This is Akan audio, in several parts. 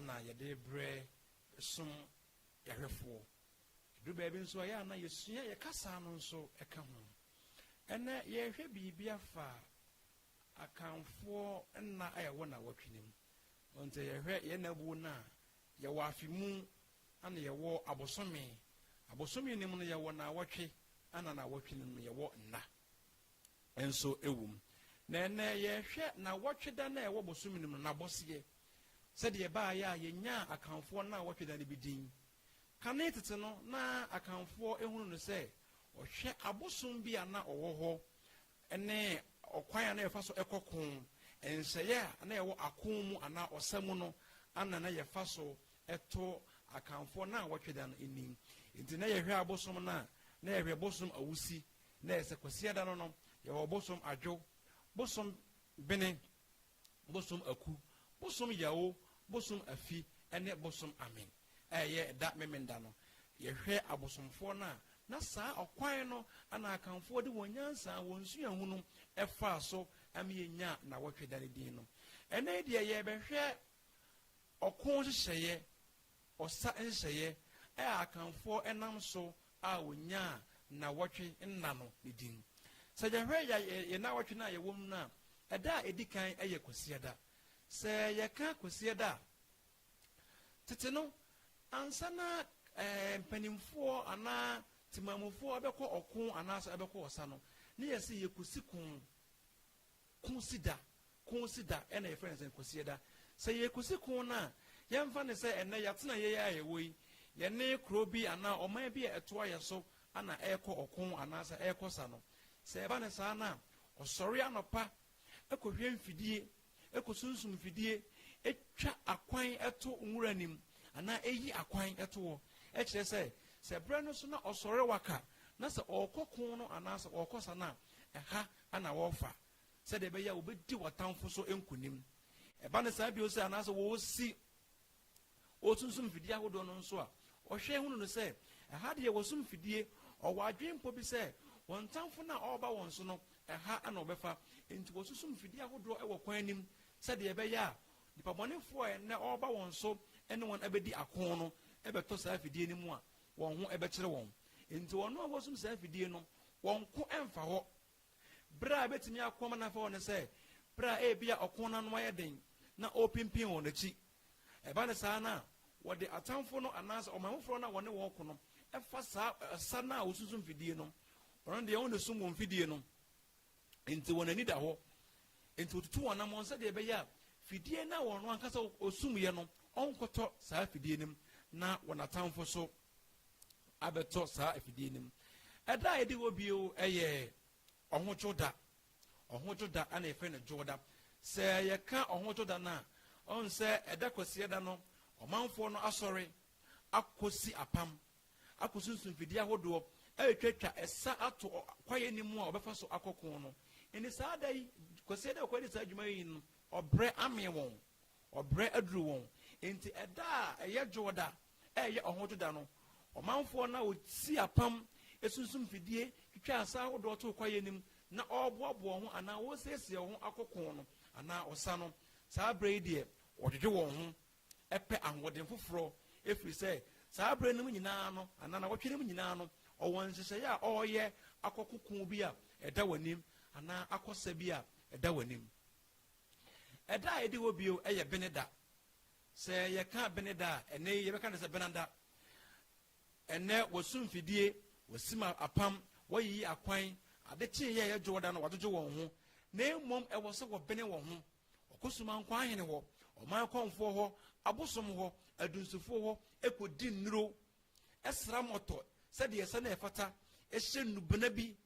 na yɛde brɛ som yɛhwɛfoɔ. Ɛduru baabi nso a, ɛyɛ a na yɛsua yɛn kasa no nso ka ho. Ɛnnɛ, yɛrehwɛ biribi afa Akanfoɔ nna a ɛwɔ nnawɔtwe no mu. Nti yɛhwɛ yɛn nnabuo no a, yɛwɔ afe mu na yɛwɔ abosome. Abosome no mu no, yɛwɔ nnawɔtwe na nnawɔtwe no mu no, yɛwɔ nna. nso wom. Na ɛnnɛ, yɛhwɛ Nnawɔtwe Da no a ɛwɔ bosome no mu no, n'abɔseɛ, sɛdeɛ ɛbaeɛ a yɛnyaa Akanfoɔ Nnawɔtwe Da no bi din. Kane tete no, na Akanfoɔ hunu no sɛ ɔhwɛ abosom bi a na ɔwɔ hɔ ne ɔkwan a na yɛfa so kɔ ko, nhyehyɛeɛ a na ɛwɔ ako mu anaa ɔsa mu no na na yɛfa so to Akanfoɔ Nnawɔtwe Da no nnim. Enti na yɛhwɛ abosom no a, na yɛhwɛ bosom Awusi na ɛyɛ sɛ Kwasiada no no yɛwɔ bosom Adwo, bosom Bene, bosom Aku, bosom Yawo, bosom Afi ne bosom Amen a ɛyɛ da Memenda no. Yɛhwɛ abosomfoɔ no a, na saa ɔkwan no na Akanfoɔ de wɔn nyansa, wɔn suahu no faa so ma yɛnyaa Nnawɔtwe da no din no. Ɛnnɛ yi deɛ yɛrebɛhwɛ ɔko nhyehyɛeɛ Ɔsa nhyeeɛ a Akanfoɔ nam so a wɔnyaa nnawɔtwe nna no ne din. Sɛ yɛhwɛ yɛn nnawɔtwe no a yɛwɔ mu no a, ɛda a ɛdi kan yɛ Kwasiada. Sɛ yɛka Kwasiada a, tete no, ansa na mpanimfoɔ anaa temanmufoɔ bɛkɔ ɔko anaasɛ bɛkɔ ɔsa no, na yɛse yɛkɔsi ko. Kwsida, Kwsida ɛna yɛfrɛ no sɛn? Kwasiada. Sɛ yɛrekwsi kwo no a, yɛmfa no sɛ ɛnnɛ yɛatena yei ara a yɛwɔ yi, yɛne kuro bi anaa ɔman bi a ɛtoa yɛ so ana ɛrekɔ ɔko anaasɛ ɛrekɔ sa no. Sɛ ɛba no saa no a, ɔsɔre anɔpa kɔhwɛ mfidie, kɔsunsum mfidie, twa akwan to nwura anim anaa ɛyi akwan to hɔ. Ɛkyerɛ sɛ, sɛ berɛ no so na ɔsɔre waka na sɛ ɔrekɔ ko no anaasɛ ɔrekɔ sa no a, ɛha na wɔrefa sɛdeɛ ɛbɛyɛ a wɔbɛdi wɔn atamfo so nkonim. Ɛba no saa bio sɛ anaasɛ wɔresi wɔsunsum mfidie ahodoɔ no nso a, wɔhwɛ hunu no sɛ ɛha deɛ wɔsum mfidie, ɔwɔ adwene mpo bi sɛ wɔn tamfo no a ɔreba wɔn so no ɛha na wɔbɛfa. Enti wɔsunsum mfidie ahodoɔ wɔ kwan anim sɛdeɛ ɛbɛyɛ a nipabɔnefoɔ a ɛnnɛ ɔreba wɔn so ne wɔn abɛdi ako no bɛtɔ saa afidie no mu a wɔn ho bɛkyerɛ wɔn. Enti wɔn a wɔsom saa afidie no, wɔn ko mfa hɔ. Bere a ebetumi ako ama no afa hɔ ne sɛ, bere a ebia ɔko no ano ayɛ den na ɔrepimpin wɔn akyi. Ɛba no saa no a, wɔde atamfo no anaasɛ ɔman foforɔ no a wɔne wɔn reko no fa saa ɔsa no a wɔsunsum fidie no, ɔno deɛ ɔnna sum wɔn fidie no. Enti wɔn ani da hɔ. Enti wɔtutu wɔn anammɔn sɛdeɛ ɛbɛyɛ a fidie no a wɔn ankasa wɔsumiiɛ no ɔnkɔtɔ saa fidie no mu, na wɔn atamfo nso abɛtɔ saa fidie no mu. Ɛda a ɛdi hɔ bio yɛ ɔhodwo da. Ɔhodwo da na yɛfrɛ no dwoɔ da. Sɛ yɛka ɔhodwo da no a, ɔhu sɛ ɛda kwasiada no, ɔmanfoɔ no asɔre akɔsi apam akosunsum mfidie ahodoɔ a ɛtwatwa ɛsa ato kwaeɛ no mu a wɔbɛfa so akɔ ko no. Enti saa da yi, Kwasi da a wɔkɔyɛ saa adwuma yi no, ɔbrɛ amee wɔn, ɔbrɛ aduru wɔn. Enti ɛda a ɛyɛ dwoɔ da a ɛyɛ ɔhoto da no, ɔmanfoɔ no a wɔsi apam sunsum mfidie twitwa ɛsa ahodoɔ to kwaeɛ no mu na wɔreboaboa wɔn ho anaa wɔresiesie wɔn ho akɔ ko no anaa ɔsa no, saa berɛ yi deɛ wɔdwodwo wɔn ho pɛ ahoɔden foforɔ, ɛfiri sɛ saa berɛ no mu nyinaa no, anaa nnawɔtwe no mu nyinaa no, ɔwɔ nhyehyɛeɛ a ɔreyɛ akɔ koko bi a ɛda w'anim, anaa akɔ sa bi a ɛda w'anim. Ɛda a ɛdi hɔ bio yɛ Beneda. Sɛ yɛka Beneda a, ɛnnɛ yi yɛbɛka no sɛ Benada. Ɛnnɛ wɔsu mfidie, wɔsim apam, wɔayiyi akwan, ade kyeeɛ a ɛyɛ dwoɔda no wɔadwodwo wɔn ho, na mmom ɛwɔ sɛ wɔbene wɔn ho. Ɔkɔ Sumankwa ahene hɔ, ɔman kɔmfoɔ hɔ, abosom hɔ, adunsifoɔ hɔ kɔdi nnuro, sra mmɔtɔ sɛdeɛ ɛsɛ na ɛfata, hyɛ nnubena bi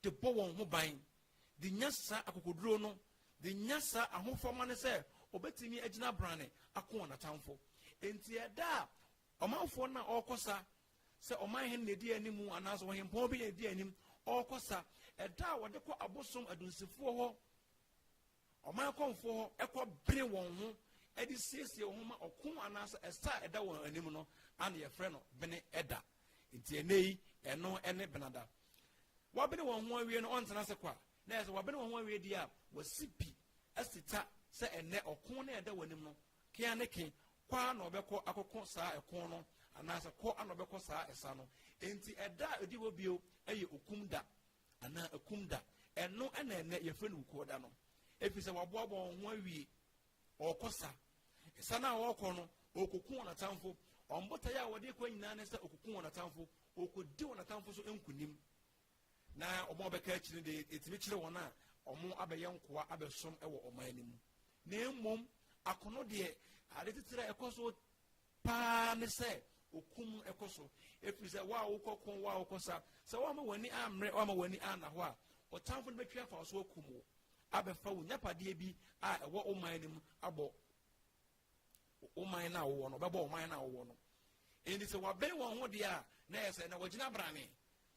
de bɔ wɔn ho ban de nya saa akokoduro no, de nya saa ahofama no sɛ ɔbɛtumi agyina abrane ako wɔn atamfo. Enti ɛda a ɔmanfoɔ no a ɔrekɔ sa sɛ ɔman hene na ɛdi anim anaasɛ ɔhempɔn bi na ɛdi anim ɔrekɔ sa, ɛda a wɔde kɔ abosom adunsifoɔ hɔ Ɔman akɔmfoɔ hɔ kɔ bene wɔn ho de siesie wɔn ho ma ɔko anaasɛ ɛsa a ɛda wɔn anim no a na yɛfrɛ no bene da. Nti ɛnɛ yi ɛno ne benada. Wɔabene wɔn ho awie no ɔntena ase kwa. Na ɛsɛ wɔabene wɔn ho awie deɛ a wɔasi pi asi ta sɛ ɛnɛ ɔko no a ɛda wɔn anim no kea ne ke kɔ a na ɔbɛkɔ akɔko saa ɛko no anaasɛ kɔ a na ɔbɛkɔ saa ɛsa no. Nti ɛda a ɛdi hɔ bio yɛ okum da. anaa akum da. Ɛno na ɛnnɛ yɛfrɛ no wukuo da no. Ɛfiri sɛ wɔaboaboa wɔn ho awie. Ɔrekɔ sa. Sa no a ɔrekɔ no, ɔrekɔku wɔn atamfo. Wɔn botaeɛ a wɔde kɔ nyinaa ne sɛ ɔkɔku wɔn atamfo. Ɔkɔdi wɔn atamfo so nkonim. Na wɔn a wɔbɛka akyiri de, ɛtumi kyerɛ wɔn a wɔn abɛyɛ nkoa abɛsom wɔ ɔman no mu. Na mmom, akono deɛ, ade titire a ɛkɔ so paa ne sɛ ɔku mu ɛkɔ so ɛfiri sɛ wo a wokɔ ko wo a wokɔ sa sɛ woama w'ani ammerɛ woama w'ani anna hɔ a ɔtamfo no bɛtwe afa wo so akum wo abɛfa wo nyapadeɛ bi a ɛwɔ wo man no mu abɔ wo man no a wowɔ no ɔbɛbɔ wo man no a wowɔ no ɛnti sɛ wɔabɛn wɔn ho deɛ a na ɛyɛ sɛ na wɔgyina brane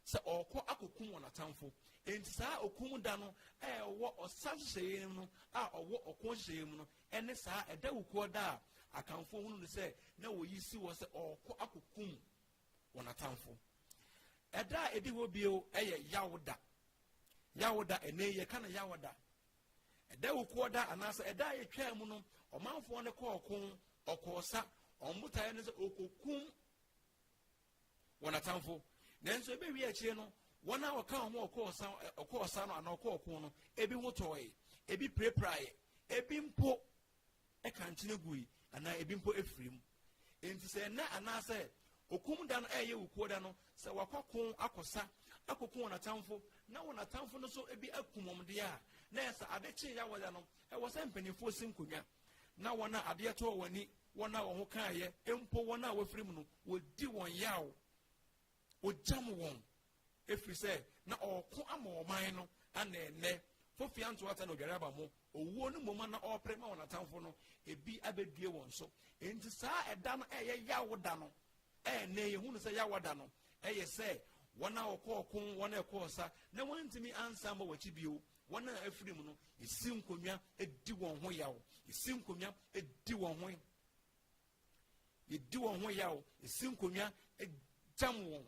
sɛ ɔrekɔ akɔkum wɔn atamfo. Enti saa okum da no a ɛwɔ ɔsa nhyehyɛeɛ no mu a ɔwɔ ɔko nhyehyɛeɛ mu no ne saa ɛdawukuɔ da a Akanfoɔ hunu no sɛ na wɔyi si hɔ sɛ ɔrekɔ akɔkum wɔn atamfo. Ɛda a ɛdi hɔ bio yɛ Yawoda. Yawoda, ɛnɛ yɛka no Yawoda. Ɛdawukuɔ da anaasɛ ɛda a yɛtwaa mu no, ɔmanfoɔ no kɔɔ ko, ɔkɔɔ sa, wɔn botaeɛ no sɛ ɔkɔkum wɔn atamfo. Nanso ɛbɛwie akyire no, wɔn a wɔka wɔn ho ɔkɔɔ ɔsa ɔkɔɔ ɔsa no anaa ɔkɔɔ ɔko no, ebi ho tɔɔe, ebi pirapiraeɛ, ebi mpo ɛka nkyene gui anaa ebi mpo efiri mu. Enti sɛ ɛnɛ anaasɛ okum da no ɛyɛ wukuo da no, sɛ wakɔko akɔsa akɔku wɔn atamfo na wɔn atamfo no nso ebi akum wɔn deɛ a, na ɛsɛ ade kye yawɔda no ɛwɔ sɛ mpanimfoɔ si nkonnwa na wɔn a adeɛ tɔɔ wɔn ani Wɔn a wɔn ho kaeɛ, mpo wɔn a wɔafiri mu no, wɔdi wɔn yaw. Wɔgyam wɔn, ɛfiri sɛ na ɔreko ama ɔman no, ana ɛnnɛ, Fofia Ntoata na Odware aba mo, owuo no mmom na ɔrepere ma wɔn atamfo no, ebi abɛdue wɔn so. Enti saa ɛda no ɛyɛ yaw da no, ɛnnɛ yɛhu no sɛ yaw da no, ɛyɛ sɛ wɔn a wɔkɔɔ ko, wɔn a ɛkɔɔ sa, na wɔntumi ansan ma wɔakyi bio, Wɔn a afiri mu no, yɛsi nkonnwa di wɔn ho yaw. Yɛsi nkonnwa di wɔn ho yɛdi wɔn ho yaw. Yɛsi nkonnwa gyam wɔn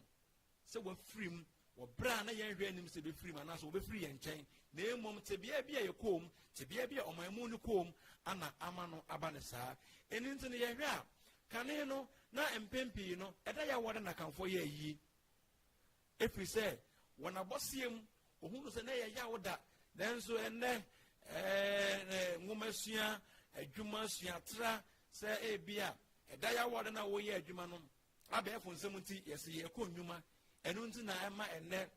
sɛ wɔafiri mu wɔ berɛ a na yɛnhwɛ anim sɛ bɛfiri mu anaasɛ wɔbɛfiri yɛn nkyɛn na mmom tebea bi a yɛkɔɔ mu tebea bi a ɔman mu no kɔɔ mu ana ama no aba no saa ɛno nti no yɛhwɛ a kane no na mpɛn pii no ɛda yɛ awɔde na kanfoɔ yɛ ayie Ɛfiri sɛ, wɔ n'abɔseɛ mu, ɔhunuu sɛ na ɛyɛ yaw da, nanso ɛnnɛ nwomasua, adwuma suatra sɛ ebi a ɛda yaw a ɔda no a wɔyɛ adwuma no abɛɛfo nsɛm nti yɛsɛ yɛkɔ nnwuma ɛno nti na ɛma ɛnnɛ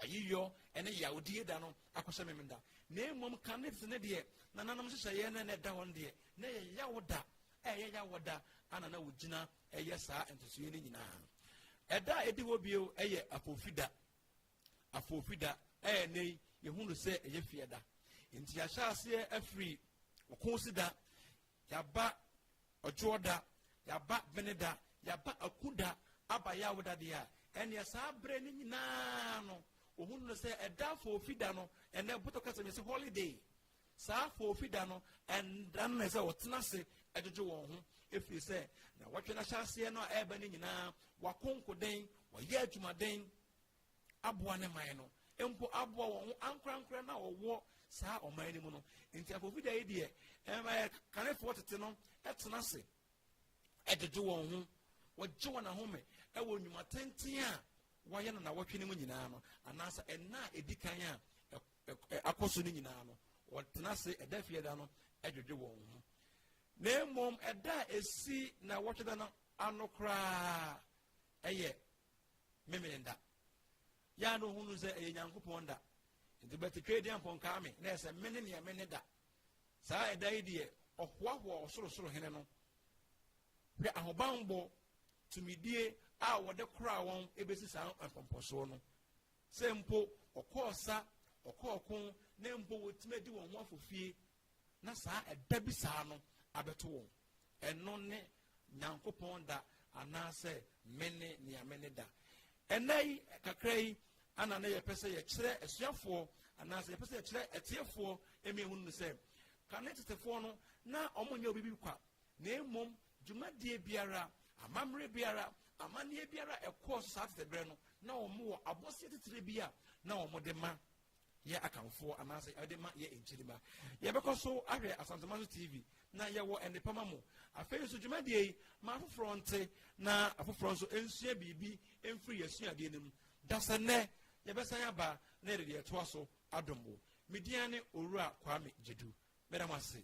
ayiyɔ ɛne yawdie da no akɔhyɛ mem da na mmom ka ne tete ne deɛ nananom nhyehyɛeɛ no ɛna ɛda hɔ no deɛ na ɛyɛ yaw da ɛyɛ yaw da ana na wɔgyina ɛyɛ saa ntosoeɛ no nyinaa ɛda a ɛdi hɔ bio ɛyɛ afofida afofida ɛyɛ ne yɛhunu sɛ ɛyɛ fie da nti yɛahyɛ aseɛ afiri ɔko si da yɛaba ɔdwoɔ da yɛaba bene da yɛaba aku da aba yɛ awoda deɛ a ɛneɛ saa berɛ no nyinaa no ɔhunu no sɛ ɛda afofida no ɛnɛ botɔ kasa me sɛ holiday Saa foofi da no nna no na ɛsɛ wɔtena ase dwodwo wɔn ho ɛfiri sɛ na wɔtwe no ahyɛaseɛ no a ɛreba no nyinaa wakonkoden wɔyɛ adwumaden aboa ne man no mpo aboa wɔn ho ankorankora no a wɔwɔ saa ɔman no mu no nti afoofi da yi deɛ ɛmɛ kanefoɔ tete no ɛtena ase ɛdwodwo wɔn ho wɔgye wɔn ahome ɛwɔ nnwuma tenten a wɔyɛ no na wɔtwe no mu nyinaa no anaasɛ ɛnna a ɛdi kan a akɔ so no nyinaa no, wɔtena ase ɛda fie da no dwodwo wɔn ho. Na mmom ɛda a ɛsi na wɔtwe da no ano koraa ɛyɛ memene da. Yɛ a na ɔhunu sɛ ɛyɛ Nyankopɔn da. Nti bɛtetwee deɛ mpɔnkaa me na ɛsɛ mene neɛ mene da. Saa ɛda yi deɛ ɔhoahoa ɔsorosoro hene no. Hwɛ ahobanbɔ tumidie a wɔde koraa wɔn ɛbɛsi saa mpɔmpɔsoɔ no. Sɛ mpo wɔkɔ ɔsa, wɔkɔ ɔko, na mpo wɔtumi adi wɔn ho afɔ fie, na saa ɛda bi saa no abɛto wɔn. Ɛno ne Nyankopɔn da anaasɛ mene nea mene da. Ɛnna yi kakra yi ana na yɛpɛ sɛ yɛkyerɛ asuafoɔ anaasɛ yɛpɛ sɛ yɛkyerɛ atiefoɔ ɛmi ehunu no sɛ kane tetefoɔ no na wɔn nyɛ obi bi kwa na mmom Dwumadie biara, amammerɛ biara, amanneɛ biara a ɛkɔɔ so saa tete berɛ no, na wɔwɔ abɔseɛ titire bi a na wɔde ma yɛ akanfoɔ anaasɛ ɛde ma yɛ nkyirima yɛbɛkɔ so ahwɛ asantema so tv na yɛwɔ nnepa ma mo afei nso dwumadie yi ma afoforɔ nte na afoforɔ nso nsua biribi mfiri yɛasuadeɛ no mu da sɛ nnɛ yɛbɛsan aba na yɛde deɛ ɛtoa so adom wo median ne owura kwame gyedu mɛda mo ase